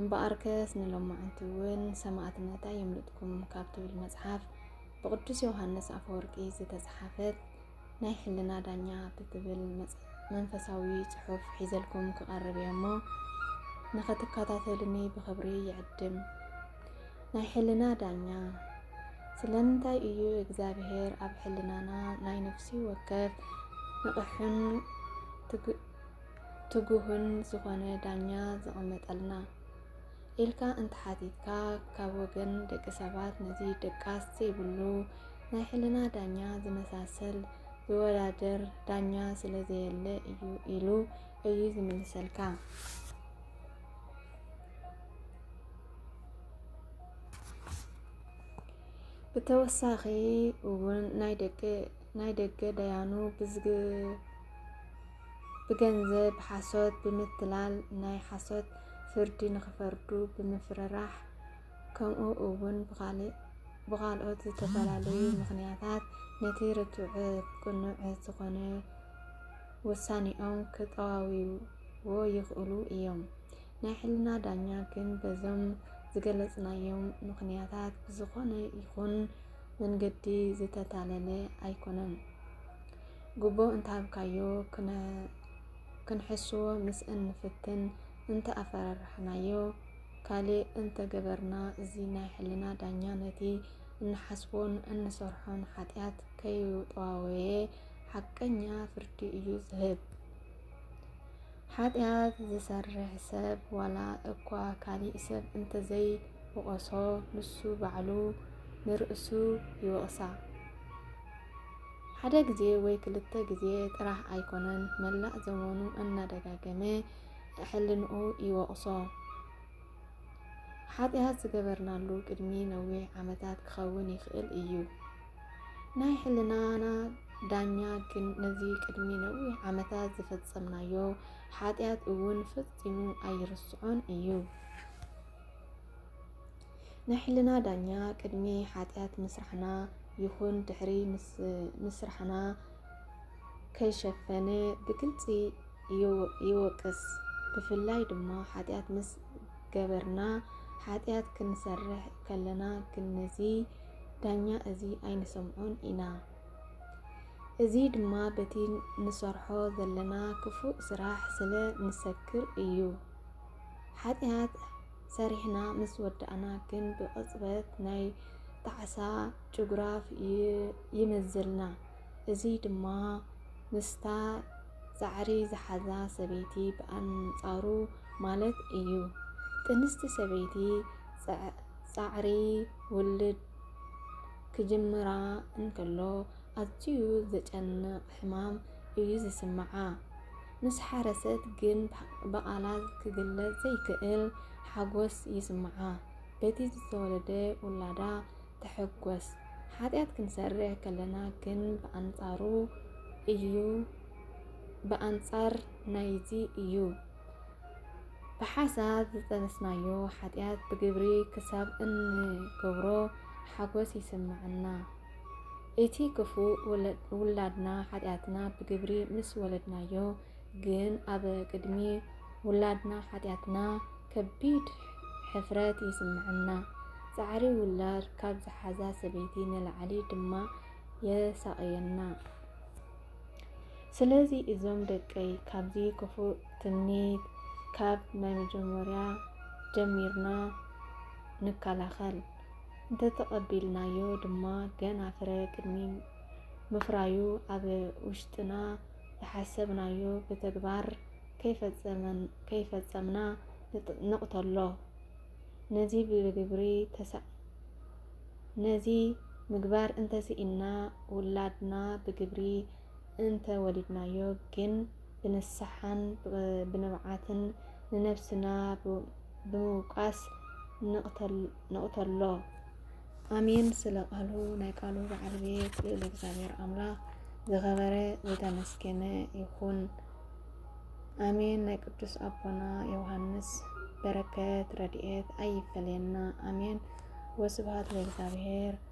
እምበኣርከስ ንሎማዕንቲውን ሰማእትነት ኣየምልጥኩም ካብ ትብል መጽሓፍ ብቅዱስ ዮሃንስ ኣፈወርቂ ዝተጽሓፈት ናይ ሕልና ዳኛ ብትብል መንፈሳዊ ጽሑፍ ሒዘልኩም ክቐርብ እየ እሞ ንኸትከታተሉኒ ብኽብሪ ይዕድም። ናይ ሕልና ዳኛ ስለምንታይ እዩ እግዚኣብሔር ኣብ ሕልናና ናይ ነፍሲ ወከፍ ንቕሕን ትጉህን ዝኾነ ዳኛ ዘቐመጠልና ኢልካ እንተሓቲትካ ካብ ወገን ደቂ ሰባት ነዚ ደቃስ ዘይብሉ ናይ ሕልና ዳኛ ዝመሳሰል ዝወዳደር ዳኛ ስለ ዘየለ እዩ ኢሉ እዩ ዝምልሰልካ። ብተወሳኺ እውን ናይ ደቂ ናይ ደገ ዳያኑ ብገንዘብ ሓሶት ብምትላል ናይ ሓሶት ፍርዲ ንክፈርዱ ብምፍርራሕ ከምኡ እውን ብካልኦት ዝተፈላለዩ ምክንያታት ነቲ ርቱዕ ቅኑዕ ዝኾነ ውሳኔኦም ክጠዋውይዎ ይኽእሉ እዮም። ናይ ሕልና ዳኛ ግን በዞም ዝገለጽናዮም ምክንያታት ብዝኾነ ይኹን መንገዲ ዝተታለለ ኣይኮነን። ጉቦ እንተሃብካዮ ክንሕስዎ ምስ እንፍትን፣ እንተ ኣፈራራሕናዮ፣ ካልእ እንተ ገበርና እዚ ናይ ሕልና ዳኛ ነቲ እንሓስቦን እንሰርሖን ሓጢኣት ከይጠዋወየ ሓቀኛ ፍርዲ እዩ ዝህብ። ሓጢኣት ዝሰርሕ ሰብ ዋላ እኳ ካልእ ሰብ እንተዘይ ውቐሶ ንሱ ባዕሉ ንርእሱ ይወቕሳ። ሓደ ግዜ ወይ ክልተ ግዜ ጥራሕ ኣይኮነን መላእ ዘመኑ እናደጋገመ ሕልንኡ ይወቕሶ። ሓጢኣት ዝገበርናሉ ቅድሚ ነዊሕ ዓመታት ክኸውን ይኽእል እዩ። ናይ ሕልናና ዳኛ ግን ነዚ ቅድሚ ነዊሕ ዓመታት ዝፈጸምናዮ ሓጢኣት እውን ፈጺሙ ኣይርስዖን እዩ። ናይ ሕልና ዳኛ ቅድሚ ሓጢኣት ምስራሕና ይኹን ድሕሪ ምስራሕና ከይሸፈነ ብግልፂ ይወቅስ። ብፍላይ ድማ ሓጢኣት ምስ ገበርና ሓጢኣት ክንሰርሕ ከለና ግን ነዚ ዳኛ እዚ ኣይንሰምዖን ኢና። እዚ ድማ በቲ ንሰርሖ ዘለና ክፉእ ስራሕ ስለ ንሰክር እዩ። ሓጢኣት ሰሪሕና ምስ ወዳእና ግን ብቕጽበት ናይ ጣዕሳ ጭጉራፍ ይመዝዘልና። እዚ ድማ ምስታ ጻዕሪ ዝሓዛ ሰበይቲ ብኣንጻሩ ማለት እዩ። ጥንስቲ ሰበይቲ ጻዕሪ ውልድ ክጅምራ እንከሎ ኣዝዩ ዘጨንቕ ሕማም እዩ ዝስምዓ። ምስ ሓረሰት ግን ብቓላት ክግለጽ ዘይክእል ሓጎስ ይስምዓ። በቲ ዝተወለደ ውላዳ ትሕጎስ። ሓጢኣት ክንሰርሕ ከለና ግን ብኣንጻሩ እዩ ብኣንጻር ናይዚ እዩ። ብሓሳብ ዝጠነስናዮ ሓጢኣት ብግብሪ ክሳብ እንገብሮ ሓጎስ ይስምዓና። እቲ ክፉ ውላድና ሓጢኣትና ብግብሪ ምስ ወለድናዮ ግን ኣብ ቅድሚ ውላድና ሓጢኣትና ከቢድ ሕፍረት ይስምዐና። ጻዕሪ ውላድ ካብ ዝሓዛ ሰበይቲ ንላዕሊ ድማ የሳቕየና። ስለዚ እዞም ደቀይ ካብዚ ክፉእ ትምኒት ካብ ናይ መጀመርያ ጀሚርና ንከላኸል። እንተተቐቢልናዮ ድማ ገና ፍረ ቅድሚ ምፍራዩ ኣብ ውሽጥና ዝሓሰብናዮ ብተግባር ከይፈጸምና ንቕተሎ። ነዚ ብግብሪ ነዚ ምግባር እንተስኢንና ውላድና ብግብሪ እንተ ወሊድናዮ ግን ብንስሓን ብንብዓትን ንነብስና ብምውቃስ ንቕተሎ። ኣሜን ስለ ቃሉ ናይ ቃሉ በዓል ቤት ልዑል እግዚኣብሔር ኣምላኽ ዝኸበረ ዝተመስገነ ይኹን። ኣሜን ናይ ቅዱስ ኣቦና ዮሃንስ በረከት ረድኤት ኣይፈለየና። ኣሜን ወስብሐት ለእግዚኣብሔር።